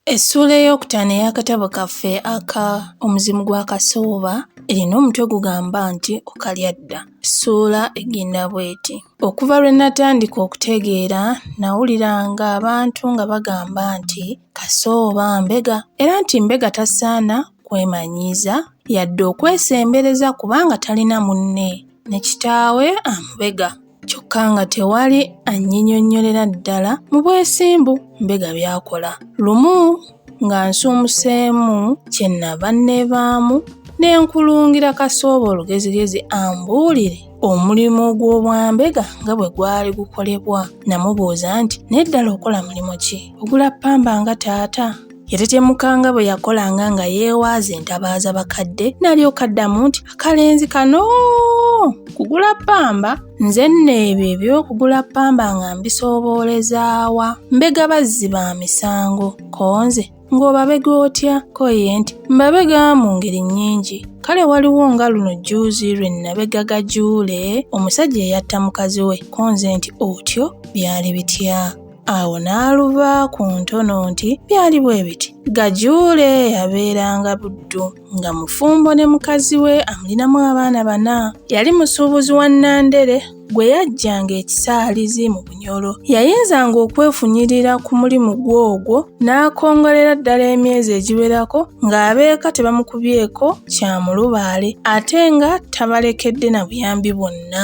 Essuula ey'okutaano ey'akatabo kaffe aka Omuzimu gwa Kasooba erina omutwe gugamba nti Okalya dda. Essuula egenda bw'eti, Okuva lwe natandika okutegeera nawulira ng'abantu nga bagamba nti Kasooba mbega era nti mbega tasaana kwemanyiiza yadde okwesembereza kubanga talina munne ne kitaawe amubega. kyokka nga tewali annyinyonnyolera ddala mu bwesimbu mbega by'akola lumu nga nsuumuseemu kye nnava nneebaamu ne nkulungira kasooba olugezigezi ambuulire omulimu gw'obwambega nga bwe gwali gukolebwa namubuuza nti naye ddala okola mulimu ki ogula ppamba nga taata Yatetemuka nga bwe yakolanga nga yeewaaza entabaaza bakadde n'alyoka addamu nti akalenzi kano kugula ppamba nze nno ebyo eby'okugula ppamba nga mbisoboolezaawa mbega bazzi ba misango konze ng'obabega otya ko ye nti mbabega mu ngeri nnyingi kale waliwo nga luno jjuuzi lwe nnabega gajuule omusajja eyatta mukazi we konze nti otyo byali bitya awo n'aluba ku ntono nti byali bwe biti gajuule yabeeranga buddu nga mufumbo ne mukazi we amulinamu abaana bana yali musuubuzi wa nandere gwe yajjanga ekisaalizi mu bunyolo yayinzanga okwefunyirira ku mulimu gw'ogwo n'akongolera ddala emyezi egiwerako ng'abeeka tebamukubyeko kyamulubaale ate nga tabalekedde na buyambi bwonna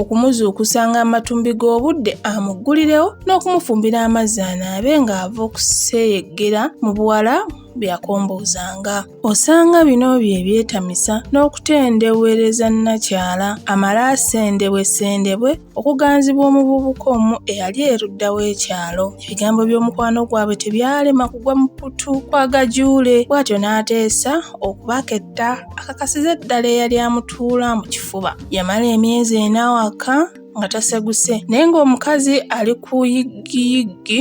okumuzuukusa ng'amatumbi g'obudde amuggulirewo n'okumufumbira amazzi anaabe ng'ava okuseyeggera mu buwala byakomboozanga osanga bino bye byetamisa n'okutendewereza nnakyala amale asendebwe sendebwe okuganzibwa omuvubuka omu eyali erudda w'ekyalo ebigambo by'omukwano gwabwe tebyalema kugwa mu pputu kwa gajuule bw'atyo n'ateesa okubaketta akakasiza eddala eyali amutuula mu kifuba yamala emyezi ena awaka nga taseguse naye ng'omukazi ali ku yiggiyiggi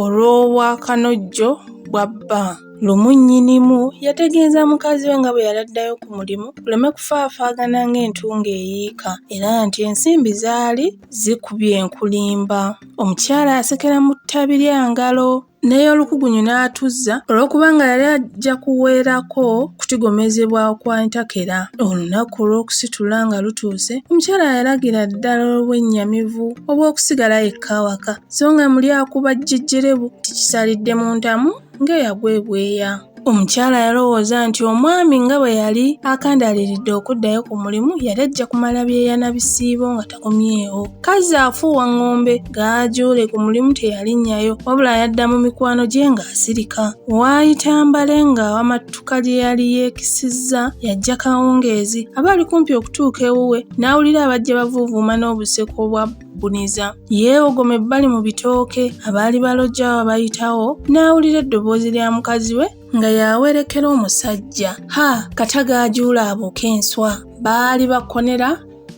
olw'obwakanojjo bwa bba lumu nnyinimu yategeeza mukazi we nga bwe yali addayo ku mulimu kuleme kufaafaagana ng'entungo eyiika era nti ensimbi zaali zikubye enkulimba omukyala asekera mu ttabi lya ngalo n'ey'olukugunyu n'atuzza olw'okubanga yali ajja kuweerako kutigomezebwa kwa ntakera. Olunaku olw'okusitula nga lutuuse, omukyala yalagira ddala olw'ennyamivu obw'okusigala yekka awaka, so nga muli akuba jjejjerebu nti kisalidde mu ntamu ng'eyagwa ebweya. Omukyala yalowooza nti omwami nga bwe yali akandaaliridde okuddayo ku mulimu yali ajja kumala byeyana bisiibo nga takomyewo. Kazzi afuuwa ng'ombe gaajuule ku mulimu teyalinnyayo wabula yadda mu mikwano gye ng'asirika. Waayita mbale ng'awamattuka lye yali yeekisizza yajja kawungeezi aba ali kumpi okutuuka ewuwe n'awulira abajja bavuuvuuma n'obuseko obwa buniza. Yeewogoma ebbali mu bitooke abaali balojja abayitawo n'awulira eddoboozi lya mukazi we nga yawerekera omusajja. Ha! Kataga ajuula abuuka enswa. Baali bakonera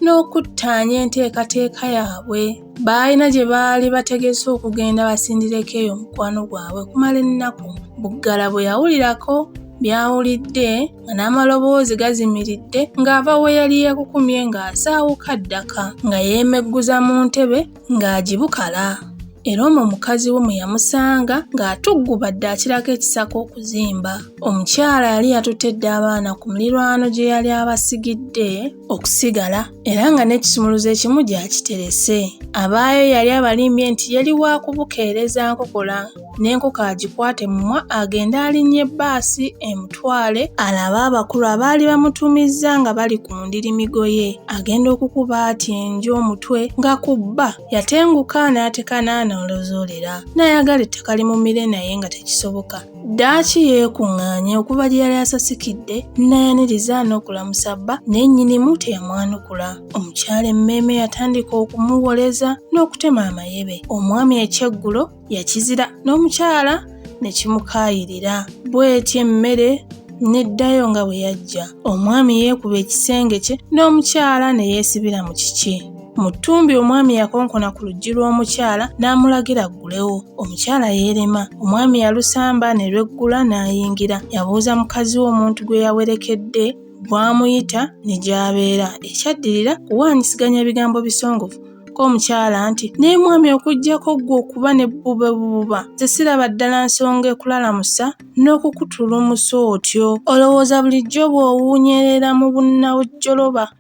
n'okuttaanya enteekateeka yaabwe. Baalina gye baali bategese okugenda basindireko eyo mukwano gwabwe okumala ennaku. Buggala bwe yawulirako byawulidde nga n'amaloboozi gazimiridde ng'ava we yali yeekukumye ng'asaawuka ddaka nga yeemegguza mu ntebe ng'agibukala era omwo mukazi we mwe yamusanga ng'atuggubadde akirako ekisaka okuzimba omukyala yali yatutte dda abaana ku mulirwano gye yali abasigidde okusigala era nga n'ekisumuluzo ekimu gyakiterese abaayo yali abalimbye nti yali wa kubukeereza nkokola n'enkoko agikwate mumwa agende alinnye bbaasi emutwale alabe abakulu abaali bamutumizza nga bali ku ndiri migoye agenda okukuba ati enju omutwe nga ku bba yatenguka n'ateka n'anoolozoolera n'ayagala ettaka limumire naye nga tekisoboka Ddaaki yeekuŋŋaanya okuva gye yali asasikidde n'ayaniriza n'okulamusa bba naye nnyinimu teyamwanukula. Omukyala emmeeme yatandika okumuwoleza n'okutema amayebe. Omwami ekyeggulo yakizira n'omukyala ne kimukaayirira. Bw'etyo emmere n'eddayo nga bwe yajja. Omwami yeekuba ekisenge kye n'omukyala ne yeesibira mu kiki. Mu ttumbi omwami yakonkona ku luggi lw'omukyala n'amulagira aggulewo. Omukyala yeerema. Omwami yalusamba ne lweggula n'ayingira. Yabuuza mukazi we omuntu gwe yawerekedde bw'amuyita ne gy'abeera. Ekyaddirira kuwaanyisiganya bigambo bisongovu ko omukyala nti naye mwami okuggyako ggwe okuba ne bube bububa nze siraba ddala nsonga ekulalamusa n'okukutulumusa otyo olowooza bulijjo bw'owuunyerera mu bunnawujjoloba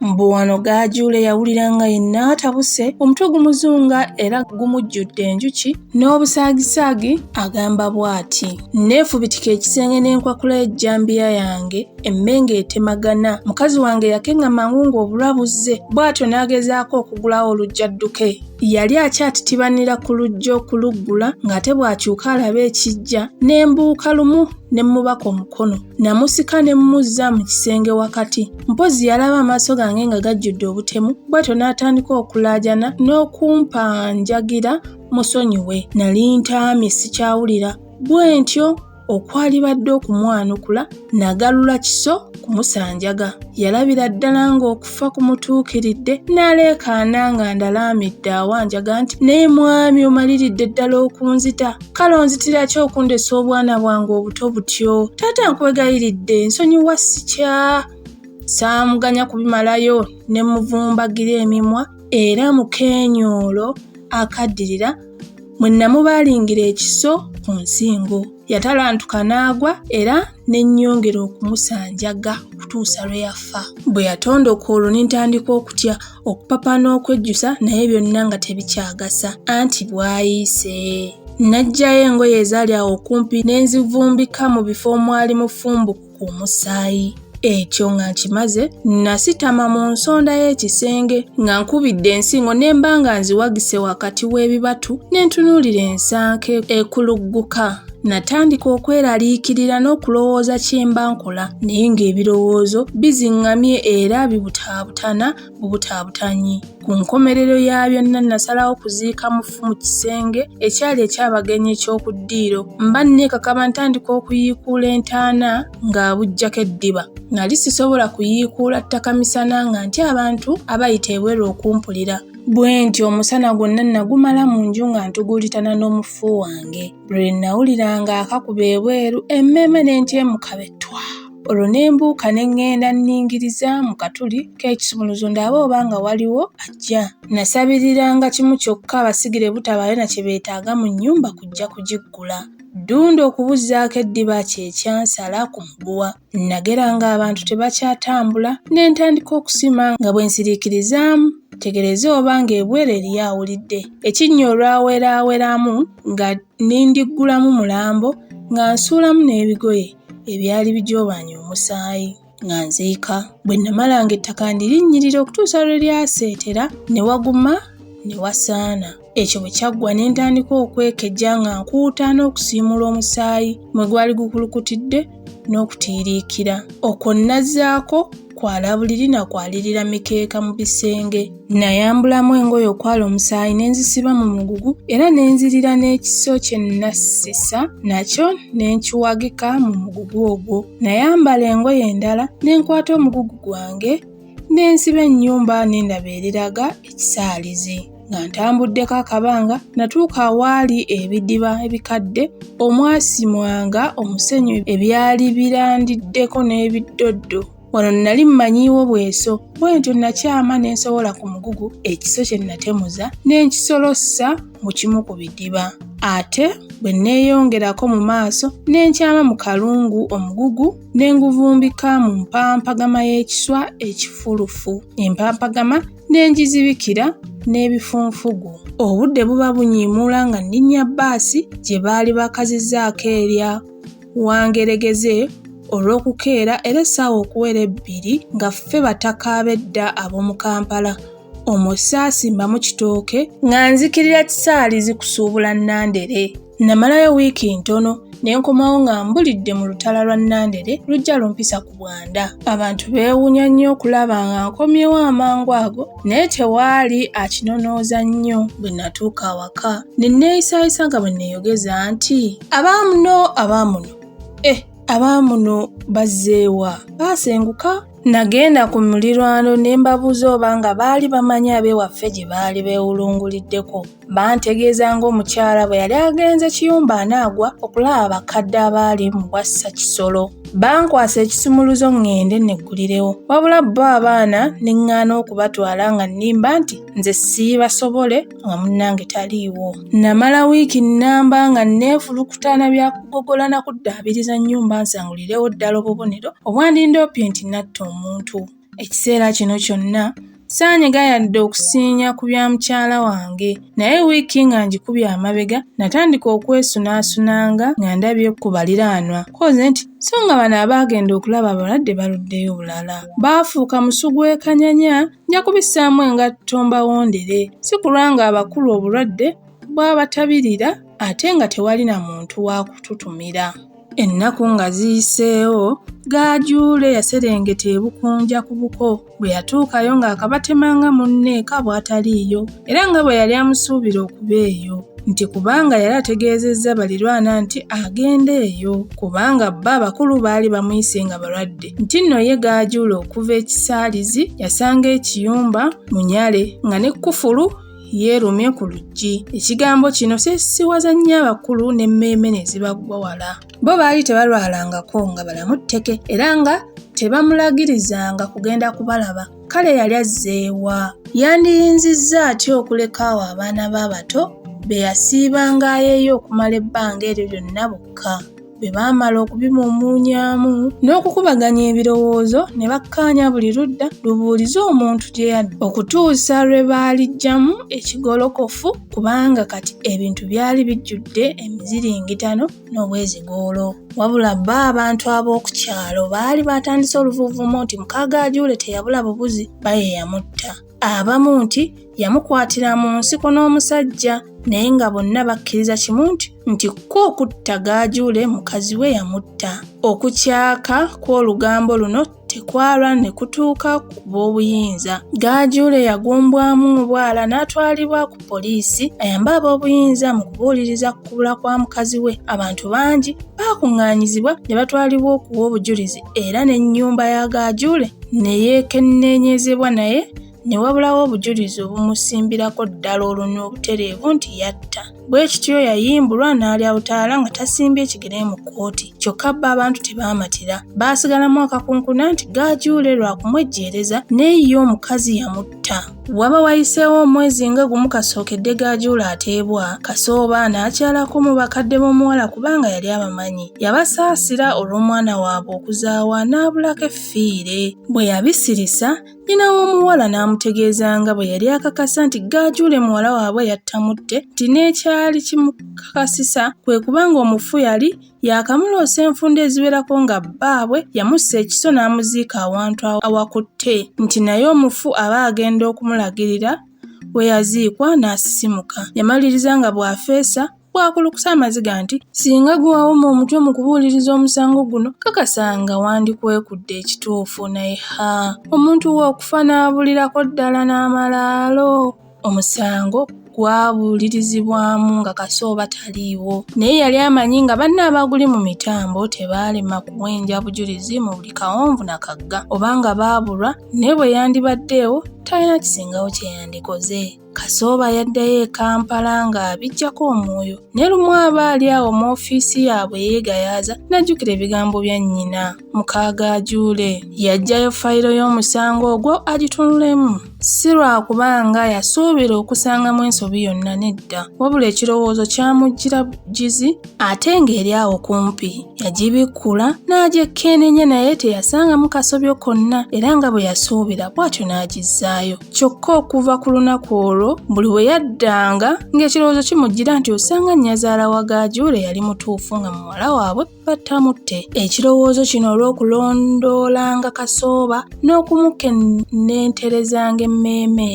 Mbu wano gaajuule yawulira nga yenna atabuse omutwe gumuzunga era gumujjudde enjuki n'obusaagisaagi agamba bw'ati nneefubitika ekisenge n'enkwakula ejjambiya yange emmenga etemagana mukazi wange yakenga mangu ng'obulwa buzze bw'atyo n'agezaako okugulawo olujja dduke yali akyatitibanira ku lujja okuluggula ng'ate bw'akyuka alaba ekijja ne mbuuka lumu ne mmubaka omukono namusika ne mmuzza mu kisenge wakati mpozzi yalaba amaaso gange nga gajjudde obutemu bwatyo n'atandika okulaajana n'okumpanjagira musonyiwe nali ntaamye sikyawulira bwe ntyo okwalibadde okumwanukula nagalula kiso kumusanjaga yalabira ddala ng'okufa kumutuukiridde n'aleekaana nga ndalaamidde awanjaga nti naye mwami omaliridde ddala okunzita kale onzitira ki okundesa obwana bwange obuto butyo taata nkwegayiridde nsonyiwa sikya saamuganya kubimalayo ne muvumbagira emimwa era mu keenyoolo akaddirira mwe namubaalingira ekiso ku nsingo yatalantuka n'agwa era ne nnyongera okumusanjaga okutuusa lwe yafa. Bwe yatondoka olwo ne ntandika okutya okupapa n'okwejjusa naye byonna nga tebikyagasa anti bwayiise. Naggyayo engoye ezaali awo okumpi ne nzivumbika mu bifo omwali mufumbuku ku musaayi. Ekyo nga nkimaze nasitama mu nsonda y'ekisenge nga nkubidde ensingo ne mba nga nziwagise wakati w'ebibatu ne ntunuulira ensanke ekulugguka. Natandika okweraliikirira n'okulowooza kyemba nkola naye ng'ebirowoozo biziŋŋamye era bibutaabutana bubutaabutanyi. Ku nkomerero ya byonna nasalawo kuziika mufu mu kisenge ekyali eky'abagenyi eky'oku ddiiro. Mba nneekakaba ntandika okuyiikuula entaana ng'abuggyako eddiba. Nali sisobola kuyiikuula ttaka misana nga ntya abantu abayita ebweru okumpulira. Bwentyo omusana gwonna nagumala mu nju nga ntugulitana n'omufu wange. Lwe nnawulira ng'akakuba ebweru emmeeme ne ntyemuka be ttwa. Olwo ne mbuuka ne ŋŋenda nniingiriza mu katuli k'ekisumuluzo ndabe oba nga waliwo ajja. Nnasabiriranga kimu kyokka abasigire butabaayo na kye beetaaga mu nnyumba kujja kugiggula. Ddunda okubuzzaako eddiba kye kyansala ku muguwa. Nnagera ng'abantu tebakyatambula ne ntandika okusima nga bwe nsiriikirizaamu tegereze oba ng'ebweru eriyo awulidde. Ekinnya olwaweraaweramu nga nindiggulamu mulambo nga nsuulamu n'ebigoye ebyali bijoobanye omusaayi nga nziika. Bwe namala ng'ettaka ndirinnyirira okutuusa lwe lyaseetera ne waguma ne wasaana. Ekyo bwe kyaggwa ne ntandika okwekejja nga nkuuta n'okusiimuula omusaayi mwe gwali gukulukutidde n'okutiiriikira. Okwo nnazzaako kwala buliri na kwalirira mikeeka mu bisenge. Nnayambulamu engoye okwala omusaayi ne nzisiba mu mugugu era ne nzirira n'ekiso kye nnassisa nakyo ne nkiwagika mu mugugu ogwo. Nayambala engoye endala ne nkwata omugugu gwange ne nsiba ennyumba ne ndaba eriraga ekisaalizi nga ntambuddeko akabanga natuuka awaali ebidiba ebikadde omwasimwanga omusenyu ebyali birandiddeko n'ebiddoddo wano nnali mmanyiiwo bweso bwe ntyo nakyama ne nsobola ku mugugu ekiso kye natemuza ne nkisolossa mu kimu ku bidiba ate bwe nneeyongerako mu maaso ne nkyama mu kalungu omugugu ne nguvumbika mu mpampagama y'ekiswa ekifulufu empampagama ne ngizibikira n'ebifunfugu obudde buba bunyiimuula nga nninnya bbaasi gye baali bakazizaako erya wangeregeze olw'okukeera era essaawa okuwera ebbiri nga ffe bataka ab'edda ab'omu kampala omwo saasimbamu kitooke nga nzikirira kisaalizi kusuubula nandere Namalayo wiiki ntono ne nkomawo nga mbulidde mu lutala lwa Nandere lujja lumpisa ku Bwanda. Abantu beewunya nnyo okulaba nga nkomyewo amangu ago naye tewaali akinonooza nnyo bwe natuuka awaka. Ne neeyisaayisa nga bwe neeyogeza nti. Abaamuno abaamuno eh abaamuno bazzeewa baasenguka Nagenda ku mulirwano ne mbabuuza oba nga baali bamanyi ab'ewaffe gye baali beewulunguliddeko Bantegeeza ng'omukyala bwe yali agenze kiyumba anaagwa okulaba bakadde abaali mu bwassa kisolo. Bankwasa ekisumuluzo ŋŋende neggulirewo. Wabula bo abaana ne ŋŋaana okubatwala nga nnimba nti nze siibasobole nga munnange taliiwo. Namala wiiki nnamba nga nneefulukuta na bya kugogola na kuddaabiriza nnyumba nsangulirewo ddala obubonero obwandindoopye nti natta omuntu. Ekiseera kino kyonna saanyega yadde okusiinya ku bya mukyala wange naye wiiki nga ngikubye amabega natandika okwesunaasunanga nga ndabye ku baliraanwa koze nti so nga bano abaagenda okulaba abalwadde baluddeyo bulala baafuuka musu gw'ekanyanya nja kubissaamu engatto mbawondere si kulwa nga abakulu obulwadde bwabatabirira ate nga tewali na muntu wa kututumira. Ennaku nga ziyiseewo, Gaajuule yaserengeta e Bukunja ku buko. Bwe yatuukayo ng'akabatema nga munne eka bw'ataliiyo era nga bwe yali amusuubira okuba eyo nti kubanga yali ategeezezza balirwana nti agenda eyo kubanga bba abakulu baali bamuyise nga balwadde nti nno ye Gaajuule okuva ekisaalizi yasanga ekiyumba munyale nga ne kkufulu yeerumye ku luggi ekigambo kino kyesiwaza nnyo abakulu n'emmeeme ne zibaggwa wala bo baali tebalwalangako nga balamu tteke era nga tebamulagirizanga kugenda kubalaba kale yali azzeewa yandiyinzizza atya okuleka awo abaana be abato be yasiibanga ayeeyo okumala ebbanga eryo lyonna bokka bwe baamala okubimumuunyaamu n'okukubaganya ebirowoozo ne bakkaanya buli ludda lubuulize omuntu gye yadda okutuusa lwe baaliggyamu ekigolokofu kubanga kati ebintu byali bijjudde emiziringitano n'obwezigoolo wabula bo abantu ab'oku kyalo baali baatandise oluvuuvuumo nti mukaaga ajuule teyabula bubuzi baye yamutta abamu nti yamukwatira mu nsiko n'omusajja naye nga bonna bakkiriza kimu nti nti kko okutta gaajuule mukazi we yamutta okukyaka kw'olugambo luno tekwalwa ne kutuuka ku b'obuyinza gaajuule yagumbwamu obwala n'atwalibwa ku poliisi ayambe ab'obuyinza mu kubuuliriza ku kubula kwa mukazi we abantu bangi baakuŋŋaanyizibwa ne batwalibwa okuwa obujulizi era n'ennyumba ya Gaajule ne yeekenneenyezebwa naye ne wabulawo obujulizi obumusimbirako ddala olunwe obutereevu nti yatta bwe kityo yayimbulwa n'alya butaala nga tasimbye ekigere mu kkooti kyokka bba abantu tebaamatira baasigalamu akakunkuna nti gaajuule lwa kumwejjeereza naye ye omukazi yamutta Waba wayiseewo omwezi nga gumu kasookedde gaajuula ateebwa, Kasooba n'akyalako mu bakadde b'omuwala kubanga yali abamanyi. Yabasaasira olw'omwana waabwe okuzaawa n'abulako effiire. Bwe yabisirisa, nnyina w'omuwala n'amutegeeza nga bwe yali akakasa nti gaajuule muwala waabwe yattamutte nti n'ekyali kimukakasisa kwe kubanga omufu yali yaakamuloosa enfunda eziwerako nga bbaabwe yamussa ekiso n'amuziika awantu awakutte nti naye omufu aba agenda okumulagirira we yaziikwa n'asisimuka yamaliriza nga bw'afeesa bwakulukusa amaziga nti singa gwe wawoma omutwe mu kubuuliriza omusango guno kakasa nga wandikwekudde ekituufu naye ha omuntu we okufa n'abulirako ddala n'amalaalo omusango gwabuulirizibwamu nga kasooba taliiwo naye yali amanyi nga banne abaaguli mu mitambo tebaalema kuwenja bujulizi mu buli kawonvu na kagga oba nga baabulwa naye bwe yandibaddeewo talina kisingawo kye yandikoze kasooba yaddayo e kampala ng'abijjako omwoyo ne lumu aba ali awo mu ofiisi yaabwe yeegayaaza n'ajjukira ebigambo bya nnyina mukaaga ajuule yaggyayo fayiro y'omusango ogwo agitunulemu si lwakuba nga yasuubira okusangamu ensobi yonna nedda wabula ekirowoozo kyamujjira bugizi ate ng'eri awo kumpi yagibikkula n'agyekkeenenya naye teyasangamu kasobyo konna era nga bwe yasuubira bw'atyo n'agizzaayo kyokka okuva ku lunaku olwo buli bwe yaddanga ng'ekirowoozo kimujjira nti osanga nnyazaala wa gaajuule yali mutuufu nga muwala waabwe battamutte ekirowoozo kino olw'okulondoolanga kasooba n'okumukennenterezanga emmeeme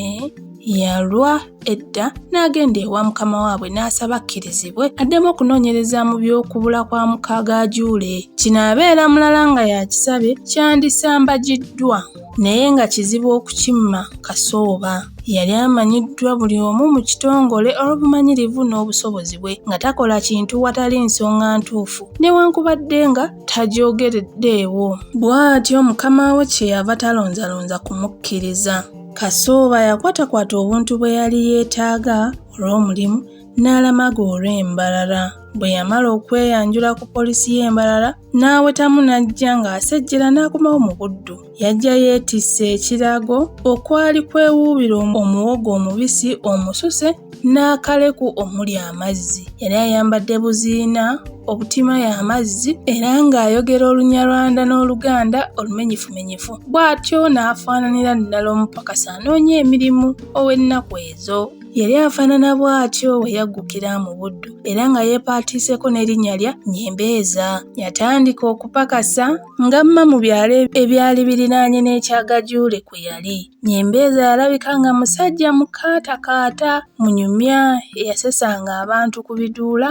yalwa edda n'agenda ewa mukama waabwe n'asaba akkirizibwe addemu okunoonyereza mu by'okubula kwa mukaaga ajuule kino abeera mulala nga yakisabye kyandisambagiddwa naye nga kizibu okukimma kasooba. Yali amanyiddwa buli omu mu kitongole olw'obumanyirivu n'obusobozi bwe nga takola kintu watali nsonga ntuufu newankubadde nga tagyogereddeewo. Bw'atyo mukama we kye yava talonzalonza kumukkiriza. Kasooba yakwatakwata obuntu bwe yali yeetaaga olw'omulimu n'alamaga olw'e Mbarara. Bwe yamala okweyanjula ku poliisi y'e Mbarara, n'awetamu n'ajja ng'asejjera n'akomawo mu buddu. Yajja yeetisse ekirago okwali kwewuubira omuwogo omubisi omususe n'akaleku omuli amazzi. Yali ayambadde buziina obutima y'amazzi era ng'ayogera olunyarwanda n'oluganda olumenyifumenyifu bw'atyo n'afaananira ddala omupakasi anoonya emirimu ow'ennaku ezo. Yali afaanana bw'atyo we yaggukira mu Buddu era nga yeepaatiiseko n'erinnya lya Nyembeeza. Yatandika okupakasa nga mma mu byalo ebyali birinaanye n'ekya Gajuule kwe yali. Nyembeeza yalabika nga musajja mukaatakaata, munyumya eyasesanga abantu ku biduula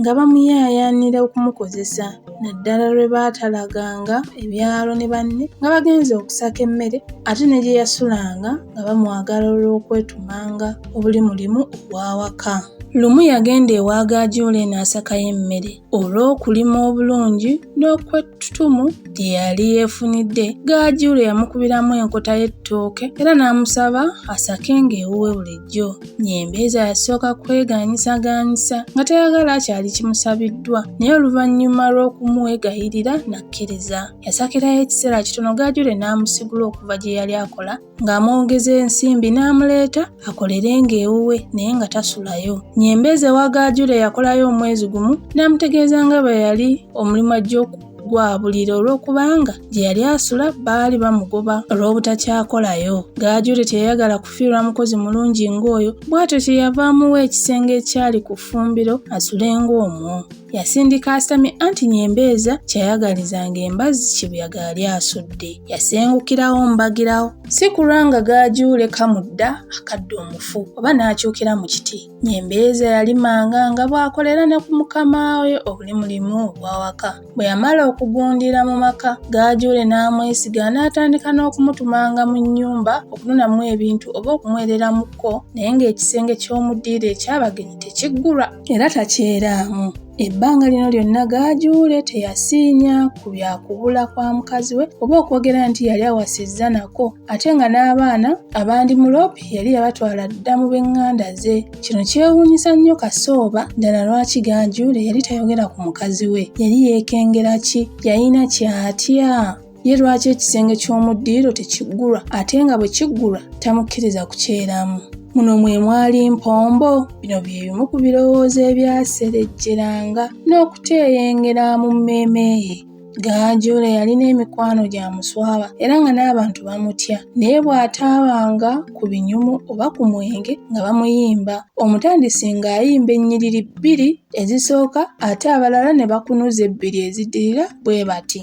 nga bamuyaayaanira okumukozesa naddala lwe baatalaganga ebyalo ne banne nga bagenze okusaka emmere ate ne gye yasulanga nga bamwagala olw'okwetumanga obuli mulimu ogw'awaka. Lumu yagenda ewa Gaajoola eno asakayo emmere olw'okulima obulungi n'okwe Tutumu gye yali yeefunidde Gaajuule yamukubiramu enkota y'ettooke era n'amusaba asake ng'ewuwe bulijjo. Nyembeeza yasooka kweganyisaganyisa nga tayagala kyali kimusabiddwa naye oluvannyuma lw'okumwegayirira n'akkiriza. Yasakirayo ekiseera kitono Gaajuule n'amusigula okuva gye yali akola ng'amwongeza ensimbi n'amuleeta akolerenga ewuwe naye nga tasulayo. Nyembeze wa Gaajule yakolayo omwezi gumu n'amutegeeza nga bwe yali omulimu ajja okugwabulira olw'okubanga gye yali asula baali bamugoba olw'obutakyakolayo. Gaajule teyayagala kufiirwa mukozi mulungi ng'oyo bw'atyo kye yava amuwa ekisenge ekyali ku ffumbiro asule ng'omwo. Yasindika asamye anti nyembeeza kyayagalizanga embazzi kibuyaga yali asudde. Yasengukirawo mbagirawo. Si kulwa nga gaajuule kamudda akadde omufu oba n'akyukira mu kiti. Nyembeeza yalimanga nga bw'akolera ne ku mukama we obuli mulimu obw'awaka. Bwe yamala okugundira mu maka, gaajuule n'amwesiga n'atandika n'okumutumanga mu nnyumba okununamu ebintu oba okumuwereramukko naye ng'ekisenge ky'omu ddiiro eky'abagenyi tekiggulwa. era takyeraamu. Ebbanga lino lyonna Gaajuule teyasiinya ku bya kubula kwa mukazi we oba okwogera nti yali awasizza nako ate nga n'abaana abandi Mulopi yali yabatwala dda mu b'eŋŋanda ze. Kino kyewuunyisa nnyo Kasooba ddala lwaki Gaajuule yali tayogera ku mukazi we. Yali yeekengera ki? Yalina ky'atya? ye lwaki ekisenge ky'omu ddiiro tekiggulwa ate nga bwe kiggulwa tamukkiriza kukyeramu muno mwe mwali mpombo bino bye bimu ku birowoozo ebyaserejjeranga n'okuteeyengera mu mmeeme ye Gaajuule yalina emikwano gya muswaba era nga n'abantu bamutya naye bw'ataabanga ku binyumu oba ku mwenge nga bamuyimba omutandisi ng'ayimba ennyiriri bbiri ezisooka ate abalala ne bakunuza ebbiri ezidirira bwe bati.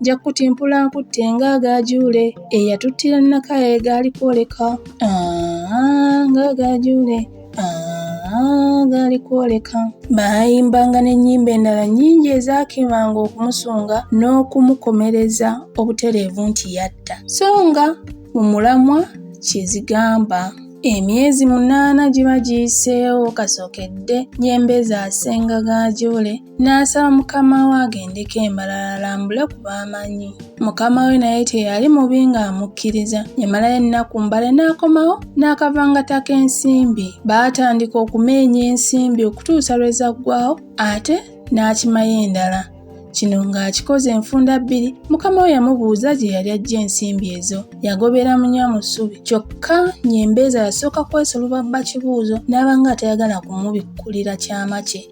nja kutimpula nkutte ng'agaajuule eyatuttira nakaye gaali kwoleka ng'agaajuule gaali kwoleka baayimbanga n'ennyimba endala nnyingi ezaakemanga okumusunga n'okumukomereza obutereevu nti yatta so nga mu mulamwa kyezigamba emyezi munaana giba giyiseewo kasookedde nyembe zaasenga gaajuule N'asaba mukama we agendeko e Mbarara alambule ku b'amanyi. Mukama we naye teyali mubi ng'amukkiriza. Yamalayo ennaku mbale n'akomawo n'akavangata k'ensimbi. Baatandika okumeenya ensimbi okutuusa lwe zaggwawo ate n'akimayo endala. Kino ng'akikoze enfunda bbiri, mukama we yamubuuza gye yali ajja ensimbi ezo. Yagobera munya mu ssubi kyokka Nyembeeza yasooka kwesoloba bba Kibuuzo n'aba ng'atayagala kumubikkulira kyama kye.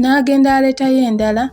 n'agenda aleetayo endala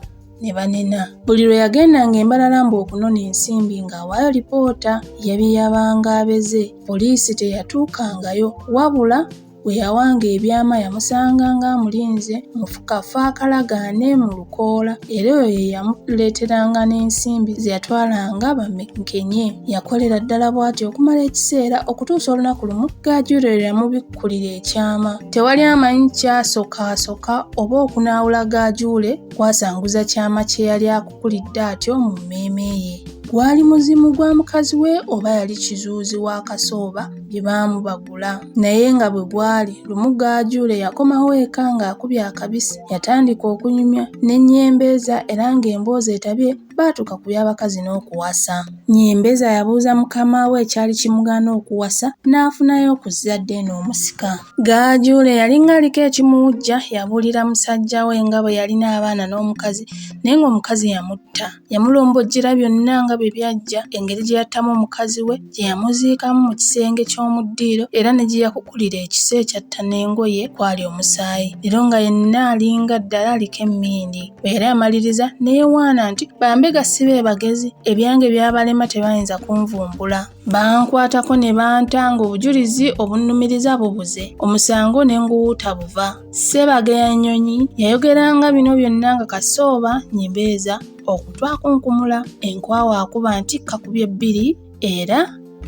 ne banena buli lwe yagendanga embalala mbu okunona ensimbi ng'awaayo lipoota yabiyabanga abeze poliisi teyatuukangayo wabula bwe yawanga ebyama yamusanga ng'amulinze mu kafo akalagaane mu lukoola era oyo ye yamuleeteranga n'ensimbi ze yatwalanga bamukenye yakolera ddala bw'atyo okumala ekiseera okutuusa olunaku lumu gaajuulirira mu okubikkulira ekyama. Tewali amanyi kyasokaasoka oba okunaawula gaajuule kwasanguza kyama kye yali akukulidde atyo mu mmeeme ye. Gwali muzimu gwa mukazi we oba yali kizuuzi wa kasooba bye baamubagula. Naye nga bwe gwali, lumu gaajuule yakomawo eka ng'akubye akabisi, yatandika okunyumya n'ennyembeeza era ng'emboozi etabye baatuuka ku by'abakazi n'okuwasa. Nnyembeza yabuuza mukama we ekyali kimugaana okuwasa n'afunayo ku zzadde eno omusika. Gaajuule yalinga aliko ekimuwujja yabuulira musajja we nga bwe yalina abaana n'omukazi naye ng'omukazi yamutta. Yamulombojjera byonna nga bye byajja, engeri gye yattamu omukazi we, gye yamuziikamu mu kisenge ky'omu ddiiro era ne gye yakukulira ekiso ekyatta n'engoye kwali omusaayi. Leero nga yenna alinga ddala aliko emmindi. Era amaliriza neyewaana nti bambega si be bagezi ebyange byabalema tebayinza kunvumbula bankwatako ne banta ng'obujulizi obunnumiriza bubuze omusango ne nguwuuta buva ssebaga ya nnyonyi yayogeranga bino byonna nga kasooba nyimbeeza okutwakunkumula enkwawa akuba nti kakubye bbiri era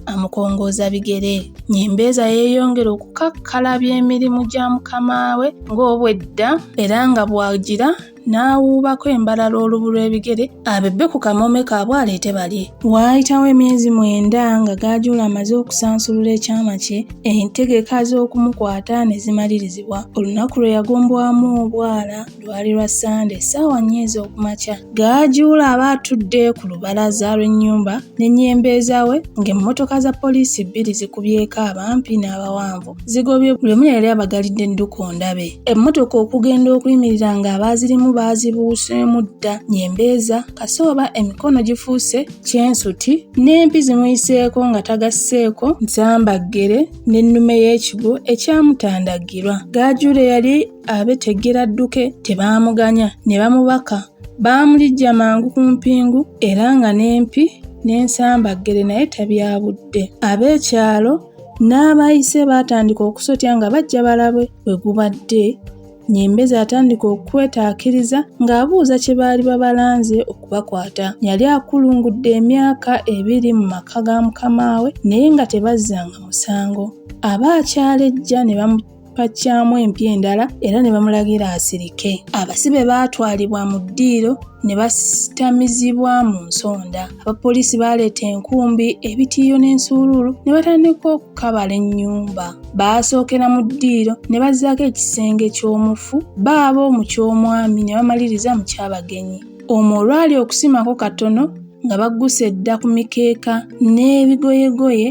amukongooza bigere. Nyimbeeza yeeyongera okukakkalabya emirimu gya mukama we ng'obwedda era nga bw'agira n'awuubako embalala olubu lw'ebigere abebbe ku kamoome kaabwe aleete balye. Waayitawo emyezi mwenda nga Gaajuula amaze okusansulula ekyama kye, entegeka z'okumukwata ne zimalirizibwa. Olunaku lwe yagombwamu obwala lwali lwa ssande ssaawa nnya ez'okumakya gaajuula aba atudde ku lubalaza lw'ennyumba n'ennyembeeza we ng'emmotoka za poliisi bbiri zikubyeko abampi n'abawanvu zigobye buli omu yali abagalidde edduka ondabe emmotoka okugenda okuyimirira ng'abaazirimu baazibuuseemu dda nyembeeza kasooba emikono gifuuse kyensuti n'empi zimuyiseeko nga tagasseeko nsambaggere n'ennume y'ekigwo ekyamutandagirwa gaajuula yali abetegera adduke tebaamuganya ne bamubaka baamulijja mangu ku mpingu era nga n'empi n'ensambaggere naye tabyabudde ab'ekyalo n'abayise baatandika okusotya nga bajja balabe we gubadde Nyembezi atandika okwetaakiriza ng'abuuza kye baali babalanze okubakwata. Yali akulungudde emyaka ebiri mu maka ga mukamaawe naye nga tebazzanga musango. Aba akyalejja ne bamu baggyamu empya endala era ne bamulagira asirike abasibe baatwalibwa mu ddiiro ne basitamizibwa mu nsonda abapoliisi baaleeta enkumbi ebitiiyo n'ensuuluulu ne batandika okukabala ennyumba baasookera mu ddiiro ne bazzaako ekisenge ky'omufu baabo mu ky'omwami ne bamaliriza mu kyabagenyi omwo olwali okusimako katono nga bagguse edda ku mikeeka n'ebigoyegoye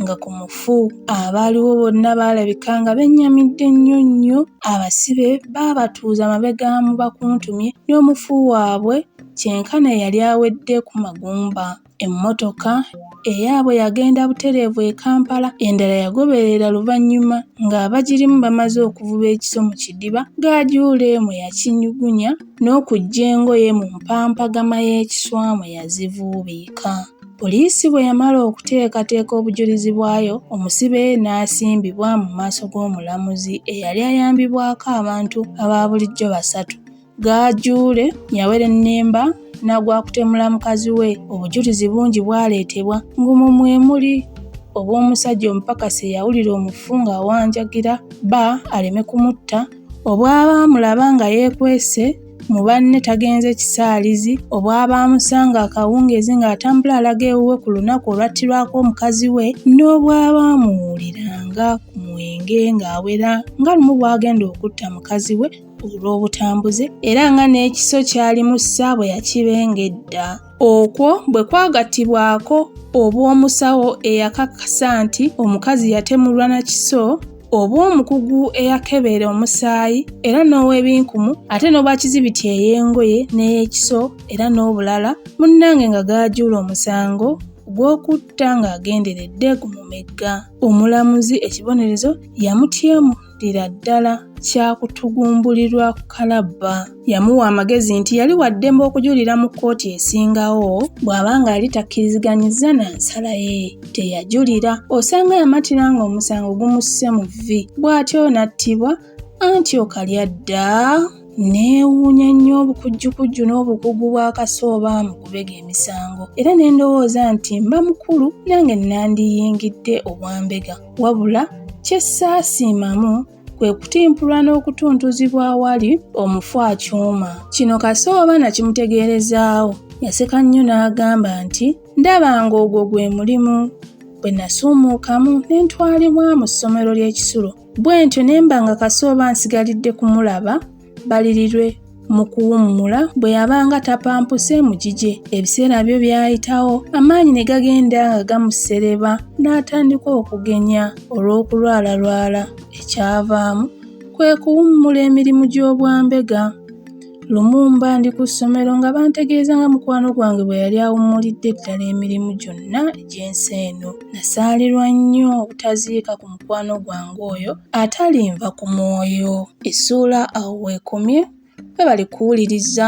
nga ku mufu. Abaaliwo bonna baalabika nga bennyamidde nnyo nnyo. Abasibe baabatuuza mabega mu bakuntumye n'omufu waabwe kyenkana eyali awedde ku magumba. Emmotoka eyaabwe yagenda butereevu e Kampala, endala yagoberera luvannyuma ng'abagirimu bamaze okuvuba ekiso mu kidiba, Gajuule mwe yakinyugunya n'okuggya engoye mu mpampagama y'ekiswa mwe yazivuubiika. Poliisi bwe yamala okuteekateeka obujulizi bwayo, omusibe n'asimbibwa mu maaso g'omulamuzi eyali ayambibwako abantu aba bulijjo basatu. Gaajuule yawerennemba n'agwakutemula mukazi we, obujulizi bungi bwaleetebwa ng'omwo mwe muli obw'omusajja omupakasi eyawulira omufu ng'awanjagira bba aleme kumutta, obw'abaamulaba nga yeekwese Mu banne tagenze kisaalizi obwabaamusanga akawungeezi ng'atambula alaga ewuwe ku lunaku olwattirwako omukazi we n'obwabaamuwuliranga ku mwenge ng'awera nga lumu bw'agenda okutta mukazi we olw'obutambuze era nga n'ekiso kyalimu ssa bwe yakibenga edda. Okwo bwe kwagattibwako obw'omusawo eyakakasa nti omukazi yatemulwa na kiso obw'omukugu eyakebeera omusaayi era n'ow'ebinkumu ate n'obwa kizibiti ey'engoye n'ey'ekiso era n'obulala munnange nga gaajuula omusango gw'okutta ng'agenderedde gumumegga omulamuzi ekibonerezo yamutyemu ddira ddala kyakutugumbulirwa ku kalabba yamuwa amagezi nti yali wa ddembe okujulira mu kkooti esingawo bw'aba ng'ali takkiriziganyizza na nsala ye teyajulira osanga yamatira ng'omusango gumusse mu vvi bw'atyo n'attibwa anti okalya dda neewuunya nnyo obukujjukujju n'obukugu bwa kasooba mu kubega emisango era ne ndowooza nti mba mukulu nange nandiyingidde obwambega Wabula kye saasiimamu kwe kutimpulwa n'okutuntuzibwa awali omufu akyuma. Kino Kasooba nakimutegeerezaawo yaseka nnyo n'agamba nti ndaba ng'ogwo gwe mulimu bwe nasuumuukamu ne ntwalibwa mu ssomero ly'ekisulo bwentyo ne mba nga Kasooba nsigalidde kumulaba balirirwe mu kuwummula bwe yabanga tapampuse mu gigye ebiseera byo byayitawo amaanyi ne gagenda nga gamusereba n'atandika okugenya olw'okulwalalwala ekyavaamu kwe kuwummula emirimu gy'obwambega lumumba ndi ku ssomero nga bantegeeza nga mukwano gwange bwe yali awummulidde ddala emirimu gyonna egy'ensi eno nasaalirwa nnyo obutaziika ku mukwano gwange oyo atalinva ku mwoyo Essuula awo w'ekomye. Webale kuwuliriza.